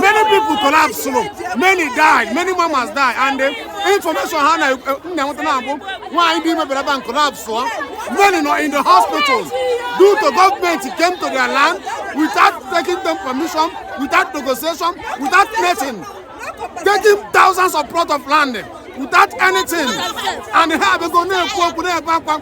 many people collapse o many died many mamas died and the eh, information ha na eh, nna nweta na abụ nwaanyị dị imebere bank collapse ọ many nọ in the hospitals due to government came to their land without taking them permission without negotiation without nothing taking thousands of plots of land without anything and ha abịago na-ekwu okwu na-ebe akwa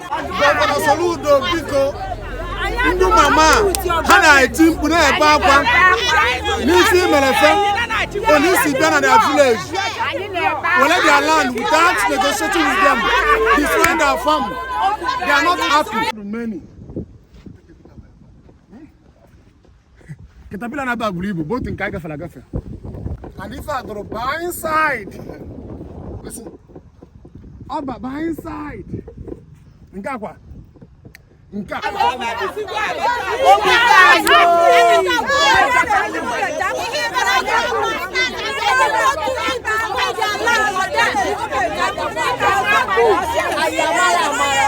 Gọvanọ Soludo biko ndị mama ha na-eti mkpu na-ebe akwa n'isi i mere ife one i si bịa their village were their land without negotiating with them destroying their farm they are not happy. katapila na-aba buru ibu bụ otu nke a gafere agafe and ife a dụrụ baa inside ọ ba baa inside nke akwa nke a Ayamara, Ayamara.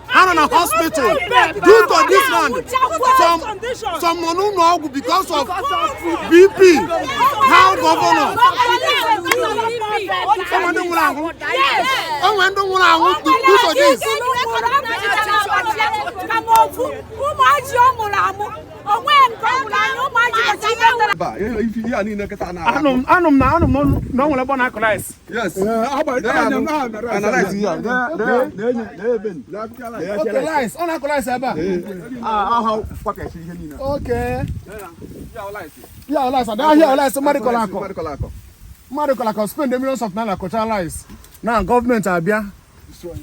ha nọ na hospital due to this land some some nọ n'ụlọ ọgwụ because of bp how gọvanọ enwe ndị nwụrụ anwụ enwe ndị nwụrụ anwụ due to this imagine ọ nwụrụ anwụ o nwe nke ọ nwụrụ anwụ imagine anụ m na anụ m na ọ nwere ebe ọ na-akọ rice Yes. Eh, ọ na-akọ rice ebe a. Okay. Ya rice, ada ahịa rice mmadụ kọrọ akọ. Mmadụ kọrọ akọ spend millions of naira kọcha rice. Now gọọmenti abịa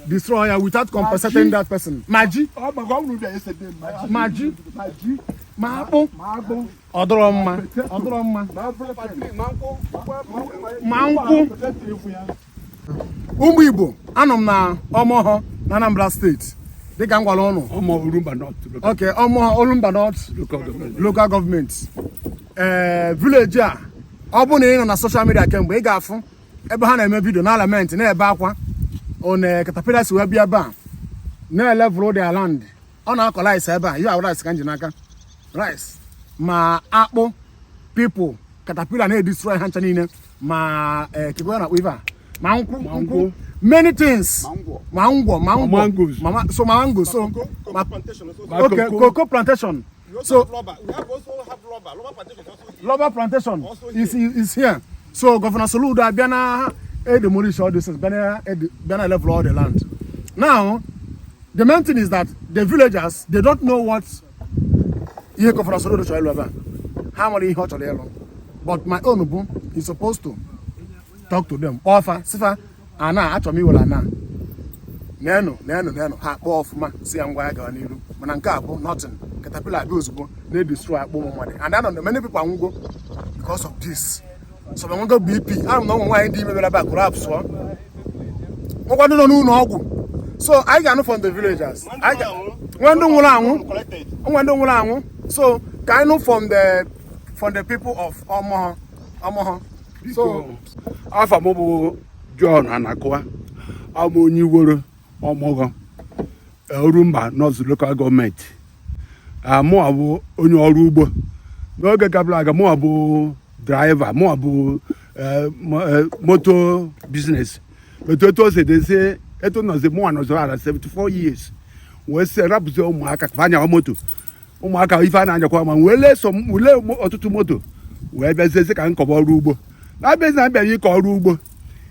destroy ya without compensating that person. Imagine. Imagine. Ma akpụ. ọ dịrọ mma ọ dịrọ mma ma nkwụ ụmụ igbo anọ m na omogho na anambra steeti dịka m gwara ụnụ okay omogho orumba north local gọọmenti ee eh, vileji a ọ bụ na ị nọ na soshal midia kemgbe ị ga-afụ ebe ha na-eme vidio na-elamenti na-ebe akwa one katapila si wee bịa ebe a na-elevel their land ọ na-akọ rice ebe a ya rice ka m ji n'aka rice ma akpụ people katapila na-edestroy ha ncha niile ma eh, koko na akpụ ife a ma nkwụ nkwụ many things ma ngwọ ma ngwọ so ma mango so okay cocoa plantation so rubber plantation is is here so governor soludo abịa na-edemolish all this things bịa na level all the land now the main thing is that the villagers they don't know what ihe Governor Soludo chọrọ ịlụ ebe a ha amarọ ihe ọ chọrọ ịlụ but my own bụ he supposed to talk to them kpọọ fa sị fa ana achọrọ m iwere ana nenu nenu nenu ha kpọọ ọfụma sị ya ngwa ya gawa n'iru mana nke a bụ nothing caterpillar abịa ozugbo na-edestroy akpụ ụmụ mmadụ and I know na many people anwụgo because of this some enwego bp and ụmụ nwaanyị dị ime bịara ebe a collapsụọ nwekwa ndị nọ n'ụlọ ọgwụ so anyị ga-anụ from the villagers nwe ndị nwụrụ anwụ nwe ndị nwụrụ anwụ so ka anyị nụ from the from the people of Omogho Omogho so afa m bụ John Anakụwa abụ m onye Iworo Omogho Orumba North Local Government mụwa bụ onye ọrụ ugbo n'oge gabara aga mụwa bụ driver mụwa bụ eh, eh, moto business but etu o si dịzi etu nọzi mụwa nọzi around 74 years wee sị rapụzi ụmụaka ka ha nyawa moto ụmụaka ife a na-anyakwa ma wee lee ọtụtụ moto wee bịazie ka m kọba ọrụ ugbo na-abịazi na abịara ịkọ ọrụ ugbo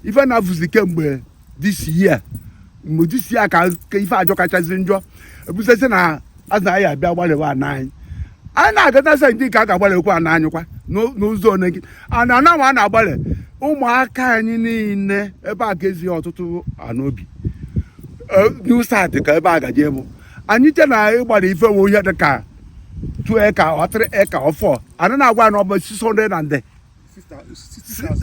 ife na-afụzi kemgbe this year mgbe this year ka ka ife ajọ kachasị njọ ebusesi na azụ anyị abịa gbalịwa ana anyị anyị na-agata sị ndị nke a ga-agbalịkwa ana anyị kwa n'ụ- n'ụzọ one gị ana ana nwa a na-agbalị ụmụaka anyị niile ebe a ga-ezi ọtụtụ anaobi new start ka ebe a gaje bụ anyị che na ịgbara ife nwe ihe dị ka 2 acre or 3 acre or 4 ana na-agwa ya na ọ bụ 600 and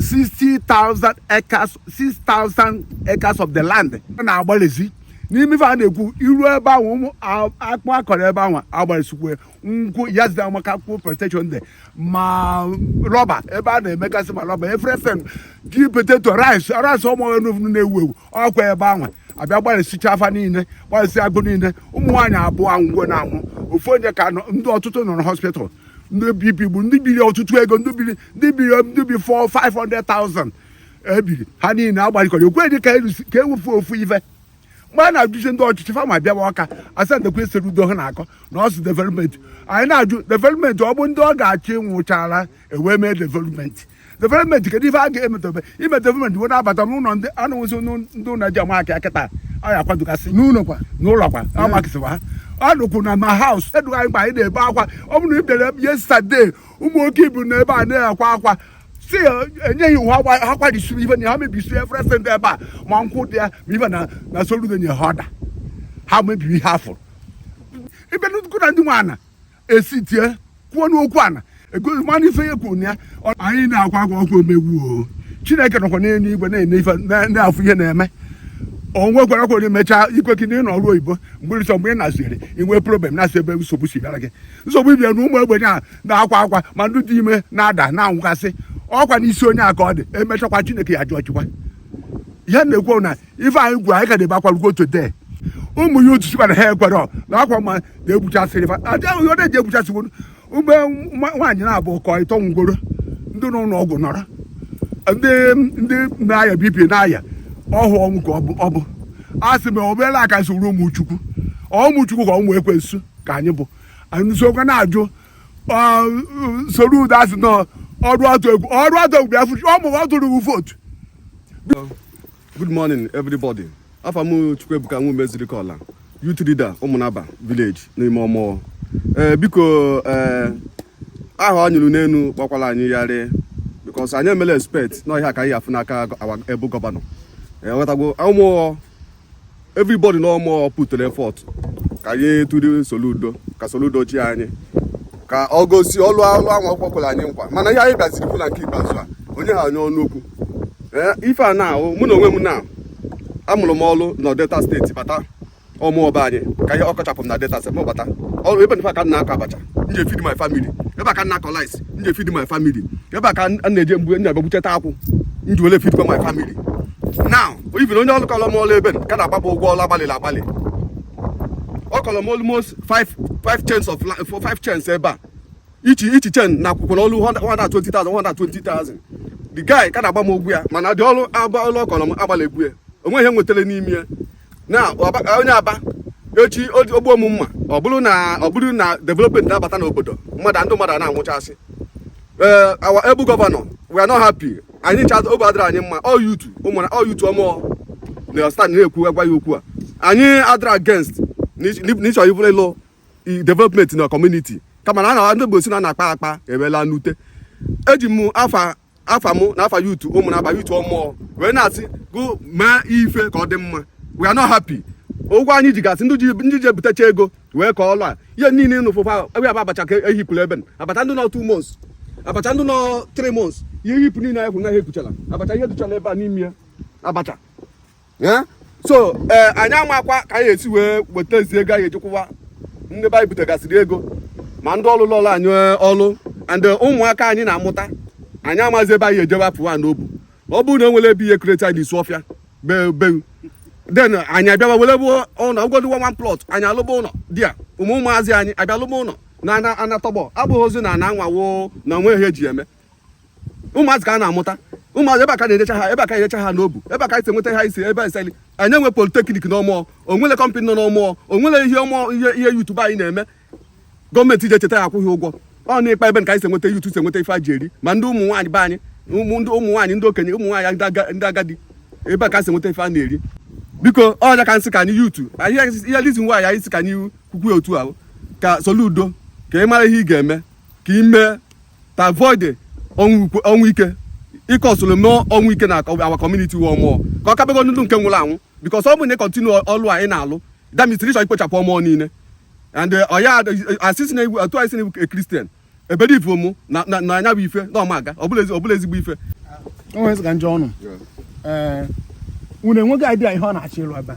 60,000 acres 6,000 acres of the land a na-agbalịzi n'ime ife a na-ekwu iru ebe ahụ ụmụ akpụ a kọrọ ebe ahụ agbalịsikwe nkwụ yesterday maka nkwụ plantation dị ma rubber ebe a na-emegasị ma rubber everything ji potato rice rice Omogho n'ofu na-ewu ewu ọkwa ebe anwa abịa gbalịsicha afa niile gbalịsi agụ niile ụmụ nwaanyị abụọ anwụgo na anwụ ofu onye ka ndị ọtụtụ nọ na hospital ndị bp bu ndị biri ọtụtụ ego ndị biri ndị biri ndị bi 4 500,000 ebiri ha niile agbalikọrọ ekweghị ka ewufu ofu ife mgbe a na-ajụzi ndị ọchịchị fama bịawa Ọka asa ndekwa Soludo ha na-akọ na ọ sị development anyị na-ajụ development ọ bụ ndị ọ ga-achị nwụchara e wee mee development development kedu ife a ga-emetobe ime development wee na-abata n'ụlọ ndị a na-enwezi ndị ụlọ ji ama aka kịta anyị akwadogasị n'ụlọ kwa n'ụlọ kwa a makịsịwa ha ọ nụkwụ na ma house edụghị anyị mgbe anyị na-ebe akwa ọ bụrụ na ị bịara yesterday ụmụ nwoke ibu nọ ebe a na-akwa akwa sị ya enyeghị iwu ha gwa- ha kwarisiri ife na ha mebisiri everything dị ebe a ma nkwụ dị ya ma ife na na Soludo nye ha order ha mebiri ihe afọ ibe nnukwu na ndị nwe ana esi tie kwuo n'okwu ana egozi mana ife ya kwuru na ya ọ- anyị na-akwa akwa oke mmegbu o chineke nọkwa n'elu igwe na-ene ife na- na-afụ ihe na-eme o nwekwara kwere mechaa ikwe gị na ị nọ ọrụ oyibo mgbe ịsọ mgbe ị na-asịrị inwe problem na-asị ebe nsogbu si bịara gị nsogbu ibia na ụmụ ogbenye a na-akwa akwa ma ndị dị ime na-ada na-anwụgasị ọ kwa n'isi onye a ka ọ dị emechakwa chineke ya jụọ chịkwa ihe m na-ekwu na ife anyị kọrọ anyị ka na-ebe akwa rugo today ụmụ ya otu sikwara ha ekwere na akwa ma na-egbuchasịrị fa adịghị ihe ọ na-eji egbuchasịwo mgbe nwaanyị na-abụ ụkọ ịtọ ngworo ndị nọ n'ụlọ ọgwụ nọrọ ndị ndị na-aya BP na-aya ọhụ ọnwụ ka ọ bụ a sị m obere aka si ruo ụmụ chukwu ụmụ chukwu ka ụmụ ekwensu ka anyị bụ anyị sokwa na-ajụ Soludo asị na ọrụ atụ egwu ọrụ atụ egwu bịa fụchi Omogho tụrụ vootu Good morning everybody. Afa m Chukwuebuka Nwume Ezirikola, youth leader Ụmụnaba village n'ime Omogho. Ee eh, biko ee eh, aha anyị hụrụ n'elu gbakwara anyị yarị because anyị emela expect na ọ ihe a ka anyị ya-afụ n'aka able governor. Ị wọtagwo eh, Omogho everybody na Omogho putere effort ka anyị tụrụ Soludo ka Soludo chịa anyị ka o gosi ọlụ alụ anwa o kwekwara anyị nkwa mana ihe anyị bịaziri fụ na nke ikpeazụ a o nyeha anyị ọnụ okwu eh, ife a na-ahụ mụ na onwe m na amụrụ m ọlụ na Delta steeti bata Omogho be anyị ka ihe ọ kọchapụ m na Delta steeti m bata ọrụ ebe nfa ka m na-akọ abacha m ji feed my family ebe a ka m na-akọ rice m ji feed my family ebe a ka m na-eje mgbe m na-aga gbucheta akwụ m ji wele feedkwa my family now even onye ọrụ kọlọ m ọrụ ebe a ka na-agba m ụgwọ ọrụ agbalịrị agbalị ọ kọlọ m almost five five chains of for five chains ebe a each each chain na-akwụ ụgwọ ọrụ 120,000 120,000 the guy ka na-agba m ụgwọ ya mana dị ọrụ agba ọrụ ọ kọlọ m agbaligwo ya o nweghị ihe m nwetara n'ime ya na onye a bịa echi o gbuo m mma ọ bụrụ na ọ bụrụ na development na-abata n'obodo mmadụ ndị mmadụ na-anwụchasị ee our able governor we are not happy anyị ncha obi adịrị anyị mma ọ youth Ụmụna ọ youth Omogho na stand na-ekwu agwa ya okwu a anyị adịrị against n'ịchọ ibụrụ ịlụ development na community kama na ndị Igbo sị na akpaa akpa alaa n'ute eji m afa afa mụ na afa youth Ụmụnaba youth Omogho wee na-asị gụ mee ife ka ọ dị mma we are not happy ụgwọ anyị ji gasị ndị ji ebutecha ego wee kọọ ọlụ a ihe niile nụ fụfa ebe aba abacha ka ehipụrụ ebe abacha ndị nọ two months abacha ndị nọ three months e hipụ niile anyị kwụ na ha ekwuchala abacha ihe duchala ebe a n'ime ya abacha so ee eh, anyị amakwa ka anyị esi wee weta ezi ego anyị ejikwụwa ndị be anyị butegasịrị ego ma ndị ọlụ lụụlụ anyị eh, ọlụ and eh, ụmụaka anyị na-amụta anyị amazi ebe anyị ejebe apụwa n'obu ọ bụrụ na o nwere ebe ihe create anyị n'isi ọfịa be unu then anyị abịawa were bụ ụlọ ụgwọdụwa one plot anyị alụba ụlọ di ya ụmụ ụmụazị anyị abịa lụba ụlọ na ana tọgbọ abụghịzi na ana anwawo na onweghị ihe eji eme ụmụazị ka a na-amụta ụmụazị ebe a ka na-erecha ha ebe a ka erecha ha n'obu ebe a ka e si enweta ha isi ebe eseli anyị enwe politeknik na Omogho onwele kọmpanị nọ n'Omogho onwele ihe Omogho ihe ihe youth be anyị na-eme gọọmenti ji echeta ya akwụ gị ụgwọ ọ n'ikpa ebe ka anyị si enweta youth si enweta ife a ji eri ma ndị ụmụ nwaanyị be anyị ndị ụmụ nwaanyị ndị okenye ụmụ nwaanyị ndị agadi ebe a ka e si enweta ife a na-eri biko ọ ya ka m sị ka anyị youth ihe lizi nwaanyị anyị si ka anyị kwukwu otu ahụ ka Soludo ka ị mara ihe ị ga-eme ka ị mee to avoid the ọnwụ ukwe- ọnwụ ike ike ọsụrụ mee ọnwụ ike na our community wụ Omogho ka ọ kabego ndụ nke nwụrụ anwụ because ọ bụ na ị continue ọlụ a ị na-alụ that means ịchọ ikpochapụ Omogho niile and eh, ọ ya asịsị na otu anyị si na a Christian ebere ivu mụ na na- na anya bụ ife na ọma aga ọ bụla ezi- ọ bụla ezigbo ife o nwere sị ka njọ unu ee unu enweghị idea ihe ọ na-achọ ịlụ ebe a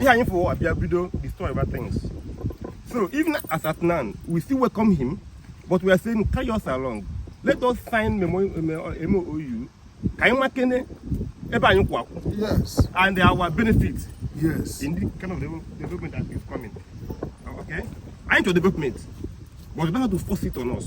ihe anyị fụ abịa bido destroy other things so even as at now we still welcome him but we are saying carry us along let us sign MOU ka anyị makene ebe anyị kwụ akwụ and our benefit yes. in the kind of development that is coming okay anyị chọrọ development but you don't have to force it on us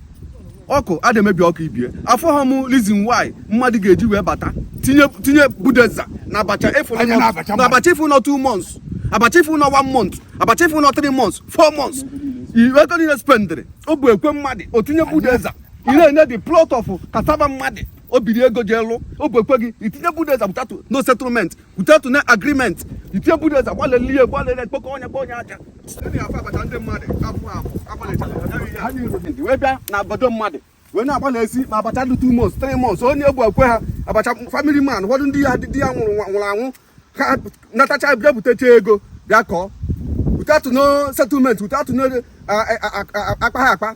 akụ adị emebi akụ ibie afụha m reason why mmadụ ga-eji wee bata tinye tinye bulldozer na abacha ị fụ anya na abacha na abacha ị fụ nọ two months abacha ị fụ nọ one month abacha ị fụ nọ three months four months iwe ego niile spendịrị obi ekwe mmadụ o tinye bulldozer ị na-enye the plot of cassava mmadụ o biri ego ji lụọ obi ekwe gị itinye bulldozer without no settlement without no agreement itinye bulldozer gbalele ihe gbalele kpokọ onye kpọ onye aja wee bịa na obodo mmadụ wee na-agbalisi ma abacha dị two months three months onye egbu ekwe ha abacha family man ụfọdụ ndị ya di ya nwụrụ nwụrụ anwụ ha natacha bịa butecha ego bịa kọọ without no settlement without no akpa ha akpa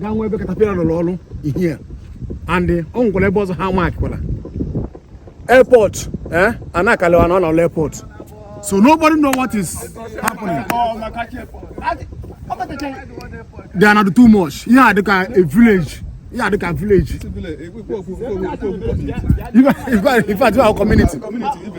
gawa ebe katapila nọ lụọ ọlụ here and o nwekwara ebe ọzọ ha markịkwara airport eh a na-akalewa na ọ nọ airport so nobody know what is happening they are not too much ihe a dịka a village ihe a dịka village in fact in fact our community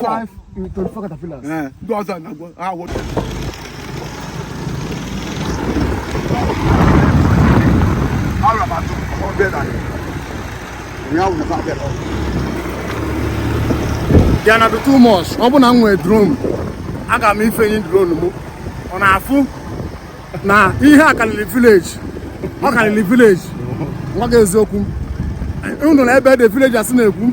Five in twenty-four caterpillars. Eh, ndị ọzọ na-agwọ awọ. Ara m atụ ọbịa na ụnyaahụ na abịa na ọbịa. Ihe a na-adị too much. Ọ bụ na m nwee drone, aga m ifenye drone m. Unu afụ na ihe a karịrị village. Ọ karịrị village. M gwa gị eziokwu. Unu na ebe dị village asị na-ekwu.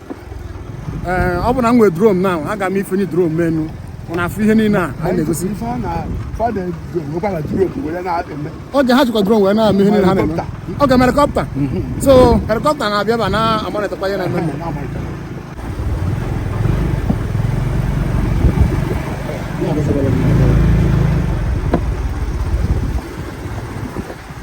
ee ọ bụ na m nwee drone na aga m ifenye drone m enu unu afụ ihe niile a anyị na-egosi okay ha jikwa drone wee na-eme ihe niile ha na-eme oge m helikọpta so helikọpta na-abịa ebe a na-amọnịtọkwa ihe na-eme eme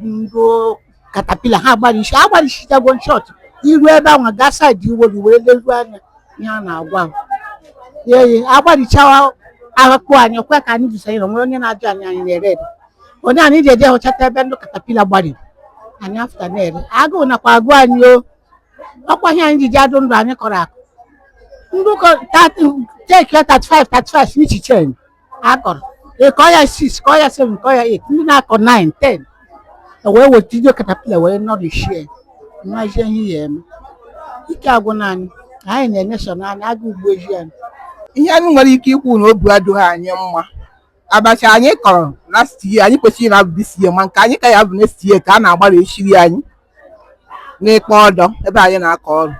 ndị katapila ha gbarisi agbarisichago in short i ruo ebe ahụ gaa side iwolu wee leruo anya ihe a na-agwa m eyi agbarichawa akpụ anyị kwe ka anyị jụsa o nwerọ onye na-ajụ anyị anyị na-ere ere onye anyị ji eje hụchata ebe ndị katapila gbariri anyị after na-ere agụụ nakwa agụ anyị o ọkwa ihe anyị ji ji adị ndụ anyị kọrọ akpụ ndị ụkọ take 35 35 each chain akọrọ ịkọ ya 6 kọọ ya 7 kọọ ya 8 ndị na-akọ 9 10 wee weta ije katapila wee nọrịchie nwazie ihe ya eme ike agwụna anyị anyị na-enye so naanị aga ugbo eji anyị ihe anyị nwere ike ikwu na obi adịghị anyị mma abacha anyị kọrọ last year anyị kwesịrị na-abụ this year ma nke anyị ka ya bụ next year ka a na-agbarisiri anyị n'ikpa ọdọ ebe anyị na-akọ ọrụ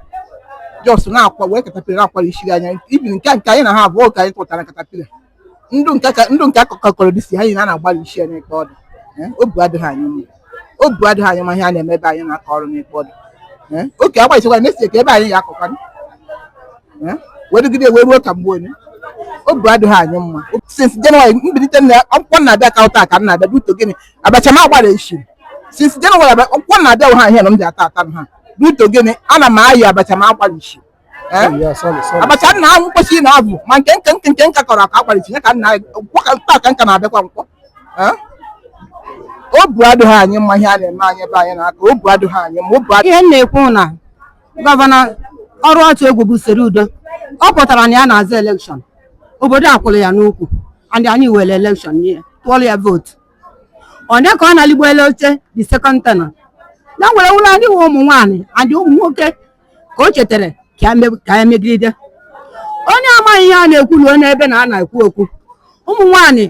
just na-akwa wee katapila na-akwarisi ihe anyị even nke nke anyị na ha abụọ ka anyị tụtara katapila ndụ nke ka ndụ nke akọkọ kọrọ this year a na-agbarisi ya n'ikpa ọdọ Eh, obu adịghị anyị mma obu adịghị anyị mma ihe a na-eme ebe anyị na-akọ ọrụ n'ikpa ọdọ Eh, oke agbaghịchikwa na esi ka ebe anyị ya-akọkwanụ Eh, wee dịgide wee ruo ka mgbe onye obu adịghị anyị mma since January m bilite na nkwọ m na-abịa ka taa ka m na-abịa due to gịnị abacha m a gbarisi m since January nkwọ na-abịa ụha ihe na m ji ata ata m ha due to gịnị ana m ayọ abacha m a gbarisi m Eh? abacha nna ahụ m kwesi na-abụ ma nke nke nke nke m ka kọrọ akọ a gbarisi ya ka nna nkwọ ka taa ka m ka na-abịakwa nkwọ Eh? obu adịghị anyị mma ihe a na-eme anyị ebe anyị na-akọ obu adịghị anyị mma obu adịghị ihe m na-ekwu na gọvanọ ọrụ atụ egwu bụ Soludo ọ pụtara na ya na-azọ elekshọn obodo akwụrụ ya n'ukwu and anyị were elekshọn nye ya tụọrọ ya vootu onye ka ọ na-aligo elu oche the second tenure na were wụrụ ndị nwe ụmụ nwaanyị and ụmụ nwoke ka o chetara ka ya me- ka ya megide onye amaghị ihe a na-ekwu ruo n'ebe na a na-ekwu okwu ụmụ nwaanyị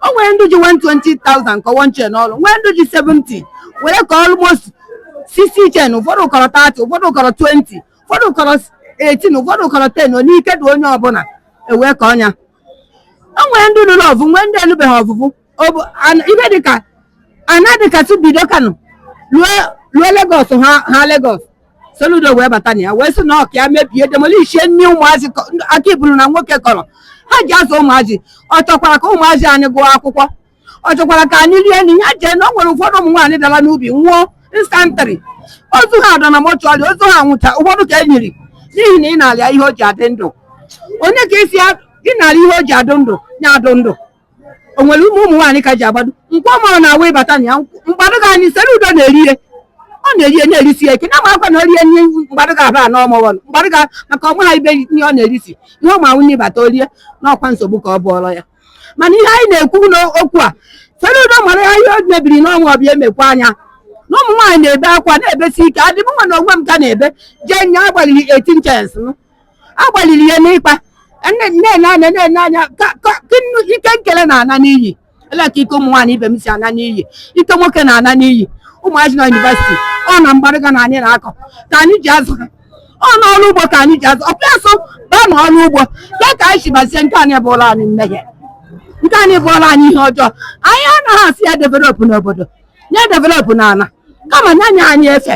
o nwere ndị ji 120,000 kọọ one chain ọrụ nwee ndị ji 70 were ka almost 60 chain ụfọdụ kọrọ 30 ụfọdụ kọrọ 20 ụfọdụ kọrọ 18 ụfọdụ kọrọ 10 onye ike dị onye ọbụla ewee ka ọnya o nwere ndị lụrụ ọvụ nwee ndị elubeghị ọvụvụ ihe dịka ana dịka bido Kano ruo Lagos ha Lagos Soludo wee bata na ya wee sị na ọka ya mebie demolishie nri ụmụazị kọ- ndị aka iburu na nwoke kọrọ ha ji azụ ụmụazị ọ chọkwara ka ụmụazị anyị gụọ akwụkwọ ọ chọkwara ka anyị rie nri ya jee na o nwere ụfọdụ ụmụ nwaanyị dara n'ubi nwụọ instantly ozu ha dọ na mọchụarị ozu ha nwụcha ụfọdụ ka e nyiri n'ihi na ị nara ya ihe o ji adị ndụ onye ka ị sị ya- ị nara ya ihe o ji adụ ndụ ya adụ ndụ o nwere ụmụ ụmụ nwaanyị ka ji agbado nkwọ mụrụ na awa ịbata na ya mgbadụga anyị Soludo na-eri ihe ọ na-eri ihe na-erisi ya ike na amakwa na o rie nri mgbadụga abaa n'ọmụghọnụ mgbadụga maka ọnwa ha ibe ihe ọ na-erisi ihe ụmụ anwụ n'ịbata orie n'ọkwa nsogbu ka ọ bụọrọ ya mana ihe anyị na-ekwu n'okwu a Soludo mara ya ihe o mebiri n'ọnwa ọ bịa emekwa anya na ụmụ nwaanyị na-ebe akwa na-ebesi ike adị mụnwa na onwe m ka na-ebe jee nye agbalịrị 18 chains agbalịrị ya n'ịkpa na-ele anya na-ele anya ka ka- ka nnu- ike nkele na-ana n'iyi ele ka ike ụmụ nwaanyị ibe m si ana n'iyi ike nwoke na-ana n'iyi ụmụazị na yunivesiti ọ na mgbadụga na anyị na-akọ ka anyị ji azụ ha ọ na ọrụ ugbo ka anyị ji azụ ọ bịa sị baa na ọrụ ugbo ya ka anyị si bazie nke anyị bụọla anyị mmehie nke anyị bụọla anyị ihe ọjọọ anyị anaghị asị ya developụ n'obodo nya developụ n'ala kama nya nye anyị efe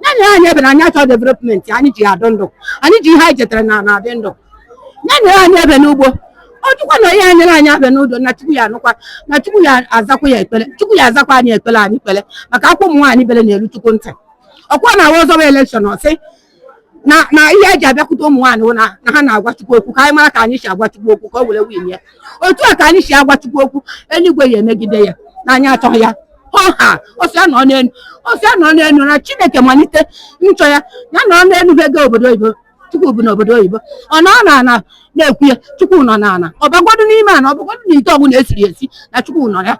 nya nye anyị ebe na anyị achọ development anyị ji adụ ndụ anyị ji ihe anyị chetara na na adị ndụ nya nye anyị ebe n'ugbo ọ jụkwa na ihe anyere anyị abịa n'udo na chukwu ya anụkwa na chukwu ya azakwa ya ekpere chukwu ya azakwa anyị ekpere anyị kpere maka akwa ụmụ nwaanyị bere na-eru chukwu ntị ọkwa na awa ọ zọba elekshọn ọ sị na na ihe e ji abịakwute ụmụ nwaanyị na ha na-agwa chukwu okwu ka anyị mara ka anyị si agwa chukwu okwu ka o were win ya otu a ka anyị si agwa Chukwu okwu eluigwe ya emegide ya na anyị achọghị ya ọha ọ sị ya nọ n'elu ọ sị ya nọ n'elu na Chineke malite nchọ ya ya nọ n'elu ha ego obodo oyibo Chukwu bụ n'obodo oyibo ọ nọ na ana na-ekwu ya Chukwu nọ na ana ọ bagodu n'ime ana ọ bagodu na ite ọbụla esiri esi na Chukwu nọ ya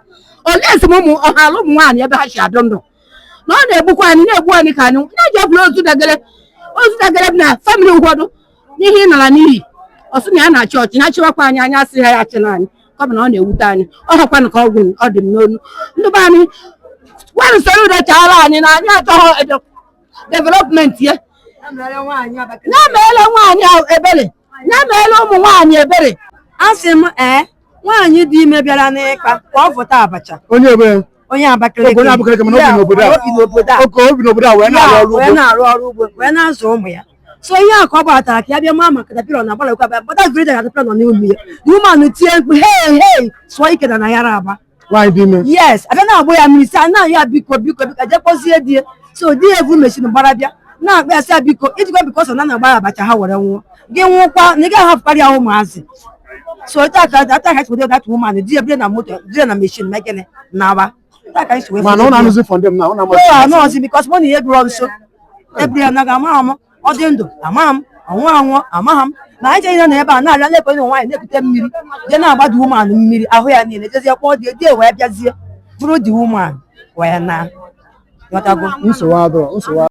olee esi m ụmụ ọ haala ụmụ nwaanyị ebe ha si adụ ndụ na ọ na-egbukwa anyị na-egbu anyị ka anyị na-eji ọbụla ozu dagere ozu dagere na famili ụfọdụ n'ihe ị nara n'iyi ọ sị na ya na-achị ọchị nya achịwakwa anyị anyị asịha ya achịna anyị ọ bụ na ọ na-ewute anyị ọ hakwanụ ka ọgwụ ọ dị m n'ọnụ ndị be anyị gwanụ Soludo chaara anyị na anyị achọghị development ya ya meela nwaanyị ebere ya meela ụmụ nwaanyị ebere a sị m ee nwaanyị dị ime bịara n'ikpa ka ọ vọta abacha onye ebe onye Abakaliki onye Abakaliki mana o bi n'obodo a oke o bi n'obodo a wee na-arụ ọrụ ugbo wee na-arụ ọrụ ugbo wee na-azụ ụmụ ya so ihe a ka ọ gbatara ka ya bịa maa maka katapila na agbalịkwa bata greda katapila nọ n'ime ya the woman tie mkpu hei hei sụọ ike n'ana yara aba nwaanyị dị ime yes a bịa na-agba ya mmiri sị na ya biko biko biko jee kpọzie di ya so di ya evu machine gbara bịa na-akpọ ya sị ya biko ijikwa biko sọ na na-agbara abacha ha were nwụọ gị nwụkwa na ị gaghị ahapụkarị ya ụmụazị so otu aka ata ka chikwa that woman di ya bire na moto bire na machine ma gịnị na-aba otu aka chikwa mana ọ na-anụzi fọndem na ọ na-amasị anụ ọzi because mụ na ihe bụrụ nso ebiri ya naga amaghị m ọ dị ndụ amaghị m ọ nwụ anwụ amaghị m na anyị jeghị na ebe a na-abịa na-ekwe ụmụ nwaanyị na-ekute mmiri jee na-agbada woman mmiri ahụ ya niile jezie kpọọ di ya di ya wee bịazie buru the woman wee naa ghọtago nsogbu adịrọ nsogbu